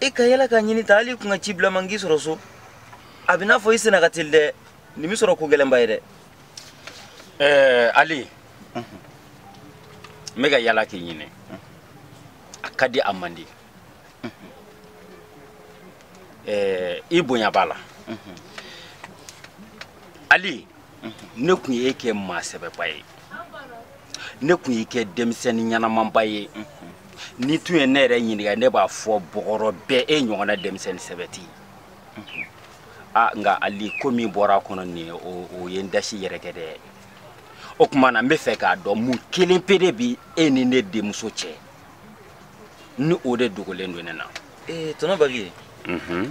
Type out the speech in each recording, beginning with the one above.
i ka yala ka n ɲini tan hali i kun ka ci bila n ma n k'i sɔrɔ so a bɛ n'a fɔ i senna ka teli dɛ nin bɛ sɔrɔ ko gɛlɛnba ye dɛ ɛɛ ali n bɛ ka yala k'i ɲini a ka di a man di ɛɛ i bonya b'a la ali ne kun ye e kɛ maa sɛbɛba ye ne kun y'i kɛ denmisɛnnin ɲɛnamanba ye n'i tun ye ne yɛrɛ ɲininka ne b'a fɔ bɔgɔrɔ bɛɛ e ɲɔgɔnna denmisɛnnin sɛbɛ tɛ yan nka ali ko min bɔra a kɔnɔ nin o ye n dasi yɛrɛ kɛ dɛ o kuma na n bɛ fɛ k'a dɔn mun kelen pe de bi e ni ne denmuso cɛ ni o de dogolen don ne na ee tɔnɔ bavieux mhm.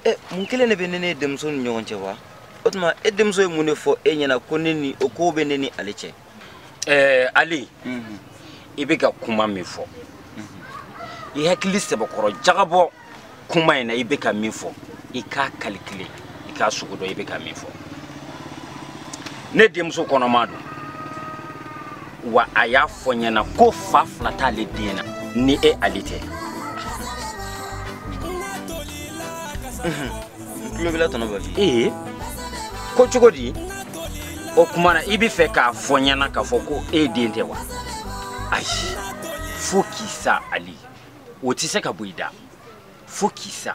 eh, mun kelen de bɛ ne ni e denmuso ni ɲɔgɔn cɛ wa o tuma e denmuso ye mun de fɔ e ɲɛna ko ne ni o ko bɛ ne ni ale cɛ eh, ali mhm. i bɛ ka kuma min fɔ mhm. i hakili sɛbɛkɔrɔ jagabɔ kuma in na i bɛ ka min fɔ i k'a kalikile i k'a sugu dɔn i bɛ ka min fɔ ne denmuso kɔnɔma don wa a y'a fɔ n ɲɛna ko fa fila t'ale den na ni e ali tɛ n tulo b'i la tɔnɔ bavieux ko cogo di o kuma na i bɛ fɛ k'a fɔ n ɲɛna k'a fɔ ko e den tɛ wa ayi fo k'i sa ali o tɛ se ka bɔ i da fo k'i sa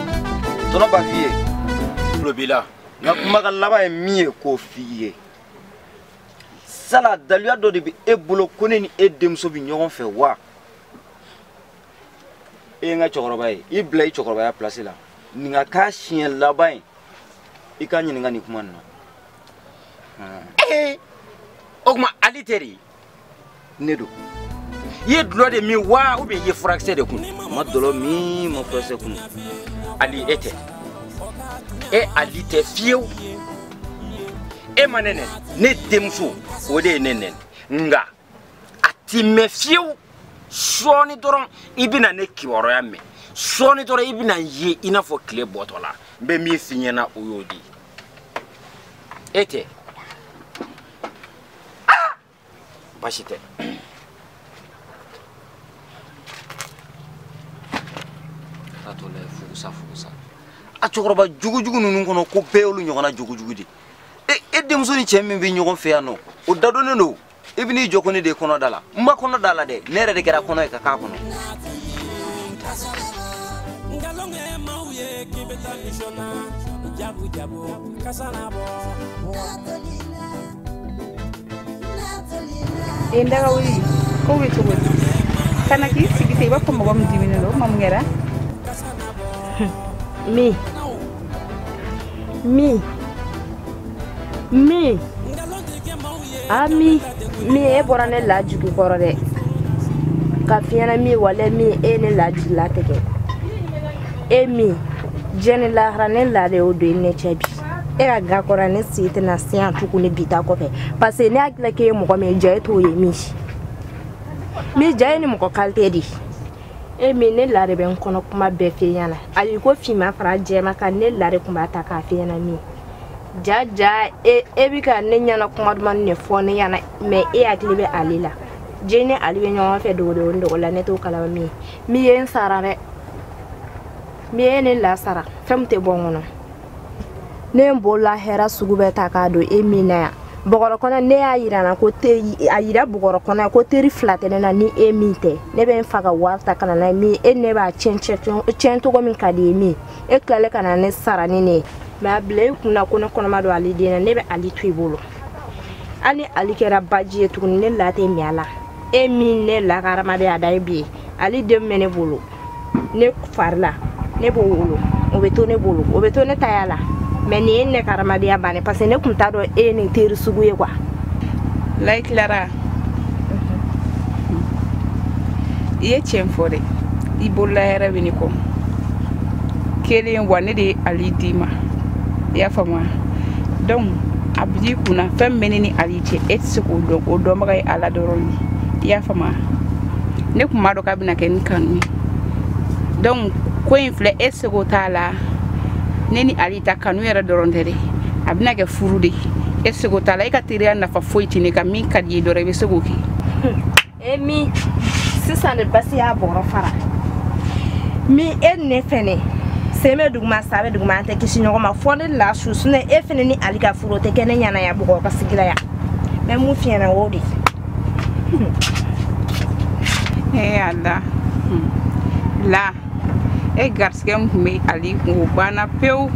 tɔnɔ bavieux tulo b'i la n ka kumakan laban ye min ye k'o f'i ye sala daluya dɔ de bɛ e bolo ko ne ni e denmuso bɛ ɲɔgɔn fɛ wa e ye n ka cɛkɔrɔba ye i bila i cɛkɔrɔbaya pilasi la nin ka k'a siɲɛ laban ye i ka n ɲininka nin kuma nin na. o kuma ali teri ne don i ye dulɔ de min wa ubiyɛn i ye furakisɛ de kun n ma dɔlɔ min n ma furakisɛ kun ali e tɛ e ali tɛ fewu e ma ne nɛni ne denmuso o de ye ne nɛni nka a ti mɛɛn fewu sɔɔni dɔrɔn i bɛna ne kibaruya mɛn sɔɔni dɔrɔn i bɛna n ye i n'a fɔ kile bɔtɔla n bɛ min f'i ɲɛna o y'o di e tɛ ah! basi tɛ ka to la furusa furusa a cɛkɔrɔba jugujugu ninnu kɔnɔ ko bɛɛ y'olu ɲɔgɔnna jugujugu di e denmuso ni cɛ min bɛ ɲɔgɔn fɛ yan nɔ o da dɔnnen don i bɛ n'i jɔ ko ne de ye kɔnɔ d'a la n ma kɔnɔ d'a la dɛ ne yɛrɛ de kɛra kɔnɔ ye ka k'a kɔnɔ jabu jabu kasana bɔ e ndaga wuli ko bɛ cogo di kana k'i sigi ten i b'a fɔ mɔgɔ min diminnen don ma mun kɛra mi mi mi ami mi e bɔra ne la jigi kɔrɔ dɛ k'a f'i ɲɛna mi wala mi e ne la jigila tigɛ e mi diɲɛ ni lahara ne la de y'o don i ne cɛ bi e ka ga kɔrɔ ne sen tɛna se yan tugun ne bi ta kɔfɛ parce que ne hakili k'e ye mɔgɔ min ye jaa e t'o ye mi mi jaa i ye nin mɔgɔ kalite de ye e mi ne la de bɛ n kɔnɔ kuma bɛɛ f'e ɲɛna hali ko finma fara jɛma kan ne la de tun b'a ta k'a f'e ɲɛna mi jaa jaa e e bɛ ka ne ɲɛna kuma duman de fɔ ne ɲɛna mais e hakili bɛ ali la jaa e ni ali bɛ ɲɔgɔn fɛ dogodogo ni dogo la ne t'o kalama mi ye mi ye n sara dɛ mi ye ne la sara fɛn min tɛ bɔ n kɔnɔ ne ye n bolola hɛra sugu bɛɛ ta k'a don e mi na yan bɔgɔrɔ kɔnɔ ne y'a yira na ko te a yira bɔgɔrɔ kɔnɔ ko teri fila tɛ ne na ni e mi tɛ ne bɛ n fa ka wari ta ka na n'a ye mi e ne b'a tiɲɛ tiɲɛ cogo min ka di i ye mi e tilalen ka na ne sara ni nin ye mais a bila i kun na ko ne kɔnɔma don ali den na ne bɛ ali to i bolo hali ni ali kɛra baji ye tuguni ne la tɛ min a la e mi ne lakarama bɛ a da ye bi ye ali den bɛ ne bolo ne fari la ne b'o wolo o bɛ to ne bolo o bɛ to ne taya la mais nin ye ne ka hadamadenya ban ye parce que ne tun t'a dɔn e ye nin teri sugu ye ko walayi clara i ye tiɲɛ fɔ dɛ i bolola hɛrɛ bɛ ne kɔ kelen wa ne de ye ali d'i ma i y'a faamuya donc a bil'i kun na fɛn min bɛ ne ni ali cɛ e tɛ se k'o dɔn o dɔnbaga ye ala dɔrɔn ye i y'a faamu ne tun b'a dɔn k'a bɛna kɛ ni kanu ye donc ko in filɛ e seko t'a la ne ni ali ta kanu yɛrɛ dɔrɔn tɛ dɛ a bɛna kɛ furu de ye e seko t'a la e ka teriya nafa foyi tɛ ne kan min ka di i ye dɔrɔn i bɛ se k'o kɛ e mi sisan de basi y'a bɔrɔ fara mi e ne fɛnɛ sen bɛ duguma sa bɛ duguma an tɛ kisi ɲɔgɔn ma fo ne la su sinon e fɛnɛ ni ali ka furu o tɛ kɛ ne ɲana yan bɔgɔ ka sigila yan n bɛ mun f'i ɲɛna o de ye ala la e garisɛgɛ min tun bɛ ali kun o banna pewu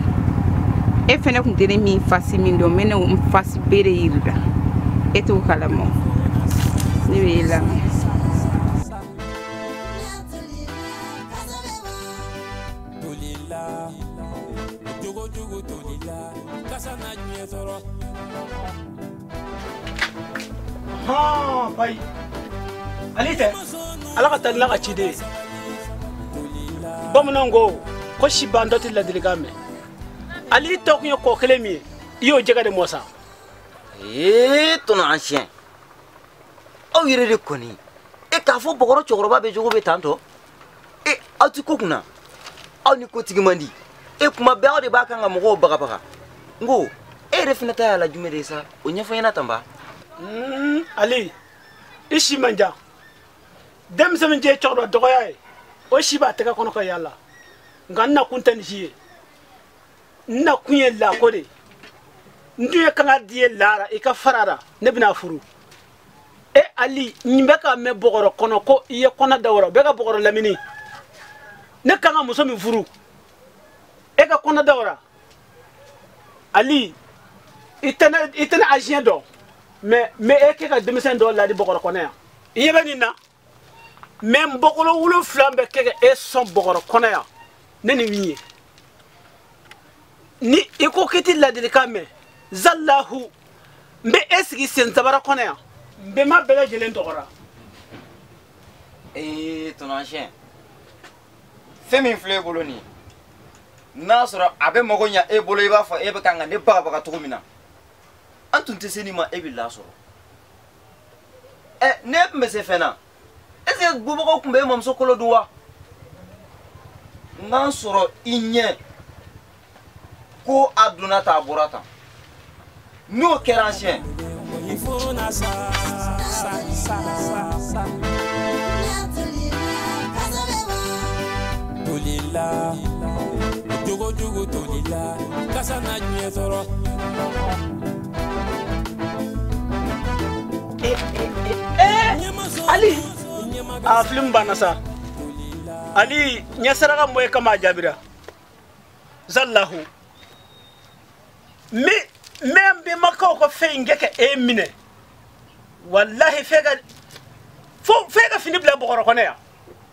e fɛnɛ tun tɛ ne mi fasi min dɔn n bɛna n fasi bɛrɛ yir'i la e t'o kalama ne bɛ e lamɛn jogo jogo tolila kasa na diɲɛ tɔɔrɔ bayi ali i tɛ ala ka talila ka ciden ye bamananw ko ko sibandɔ tɛ ladilikan mɛn ali i tɔ kun ye kɔ kelen min ye i y'o jɛgɛ de mɔ sa ee ton ancien aw yɛrɛ de kɔni e k'a fɔ bɔgɔrɔ cɛkɔrɔba bɛɛ jogo bɛ tan tɔ e aw tɛ ko kunna aw ni ko tigi man di e kuma bɛɛ aw de b'a kan ka mɔgɔw bagabaga n ko e yɛrɛ fana ta y'a la jumɛn de ye sa o ɲɛfɔ ɲɛna tan ba hmm, ali i si man jan denmisɛn min ye cɛkɔrɔba dɔgɔya ye o si b'a tɛgɛ kɔnɔ ka yaala nka n nakun tɛ nin si ye n nakun ye la ko de ye n dun ye kangari i ye la ra i ka fara a ra ne bɛna furu e ali nin bɛ ka mɛn bɔgɔrɔ kɔnɔ ko i ye kɔnɔ da o ra bɛ ka bɔgɔrɔ lamini ne kan ka muso min furu e ka kɔnɔ da o ra ali i tɛ ne ancien dɔn mais n bɛ e kɛ ka denmisɛn dɔ ladi bɔgɔrɔ kɔnɔ yan i ɲɛ bɛ nin na mais n bɔkolo wolonfila bɛ kɛ ka e sɔn bɔgɔrɔ kɔnɔ yan ne ni min ye ni i ko k'i ti ladilikan mɛn zalahu n bɛ e sigi sensabara kɔnɔ yan n bɛnba bɛɛ lajɛlen tɔgɔ ra ee ton ancien fɛn min filɛ e bolo nin ye n'a sɔrɔ a bɛ mago ɲa e bolo i b'a fɔ e bɛ kan ka ne bagabaga cogo min na an tun tɛ se nin ma e bɛ la sɔrɔ ɛ eh, ne tun bɛ se fɛn na est ce que bubagaw tun bɛ e mamuso kolo dun wa n k'an sɔrɔ i ɲɛ ko a donna tan a bɔra tan n'o kɛra ancien. tolila jogojugu tolila kasa na diɲɛ sɔrɔ ali a film banna sa ali n ye saraka min bɔ e kama a jaabira zallahu n bɛ n bɛnbakaw ka fɛn in kɛ ka e minɛ walahi f'e ka fo f'e ka fini bila bɔgɔrɔ kɔnɔ yan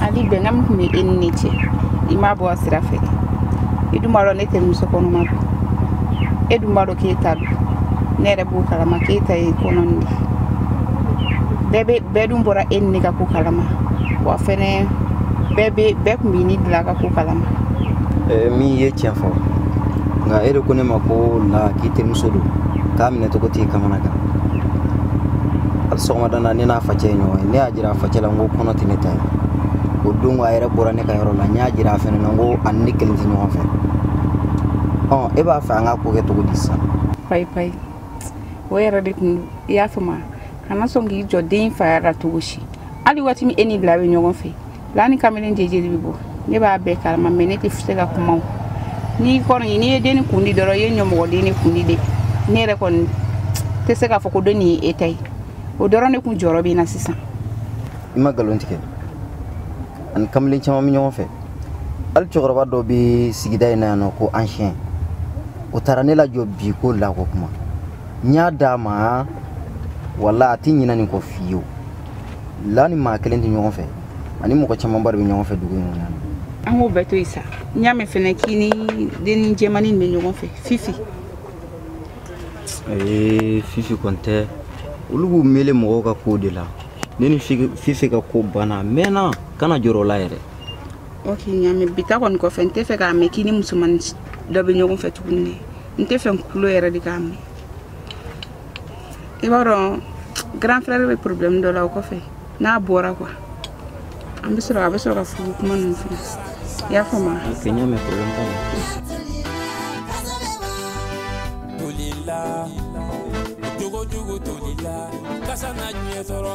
ali bɛnkan min tun bɛ e ni ne cɛ i m'a bɔ a sira fɛ i dun b'a dɔn ne tɛ muso kɔnɔma don e dun b'a dɔn k'e ta don ne yɛrɛ b'o kalama k'e ta ye kɔnɔ nin de bɛɛ bɛɛ dun bɔra e ni ne ka ko kalama wa fɛnɛ bɛɛ bɛ bɛɛ tun b'i ni la ka ko kalama eh, min ye tiɲɛ fɔ nka e de ko ne ma ko la k'i terimuso don k'a minɛ cogo t'i kamanagan hali sɔgɔmada na ne n'a facɛ ye ɲɔgɔn ye ne y'a jira facɛ la n ko kɔnɔ tɛ ne ta ye o don a yɛrɛ bɔra ne ka yɔrɔ la n y'a jira a fɛnɛ na n ko a ni ne kelen tɛ ɲɔgɔn fɛ ɔ e b'a fɛ an ka ko kɛ cogo di sisan payi payi o yɛrɛ de tun i y'a faamu kana sɔn k'i jɔ den faya la cogo si hali waati min e ni la bɛ ɲɔgɔn fɛ la ni kamalen jeje de bɛ bɔ ne b'a bɛɛ kalama mɛ ne tɛ se ka kuma o n'i kɔni n'i ye denni kundi dɔrɔn i ye ɲamɔgɔdenni kundi de ne yɛrɛ kɔni tɛ se k'a fɔ ko denni ye e ta ye o dɔrɔn de kun jɔrɔ bɛ n na sisan i ma nkalon tigɛ a ni kamalen caman bɛ ɲɔgɔn fɛ hali cɛkɔrɔba dɔ bɛ sigida in na yan n'o ko ancien o taara ne lajɔ bi ko la ko kuma n y'a d'a ma wala a tɛ ɲinɛ nin kɔ fiyewu la ni maa kelen tɛ ɲɔgɔn fɛ a ni mɔgɔ camanba de bɛ ɲɔgɔn fɛ dugu in kɔnɔ an k'o bɛɛ to yen sa n y'a mɛn fɛnɛ k'i ni denni jɛmani bɛ ɲɔgɔn fɛ fifi ee fifi kɔni tɛ olu b'u mele mɔgɔw ka kow de la ne ni fifi ka ko banna mɛnna kana jɔrɔ o la yɛrɛ ok n y'a mɛn bi ta kɔni kɔfɛ n t'a fɛ k'a mɛn k'i ni musomanin dɔ bɛ ɲɔgɔn fɛ tuguni dɛ n t'a fɛ n kulo yɛrɛ de k'a mɛn i b'a dɔn grand frère bɛ problème dɔ la o kɔfɛ n'a bɔra quoi an bɛ sɔrɔ a bɛ sɔrɔ ka furu kuma ninnu fɔ i y'a faamu wa. ok n y'a mɛn problème t'a la. jogo jogo tolila kasa na diɲɛ tɔɔrɔ.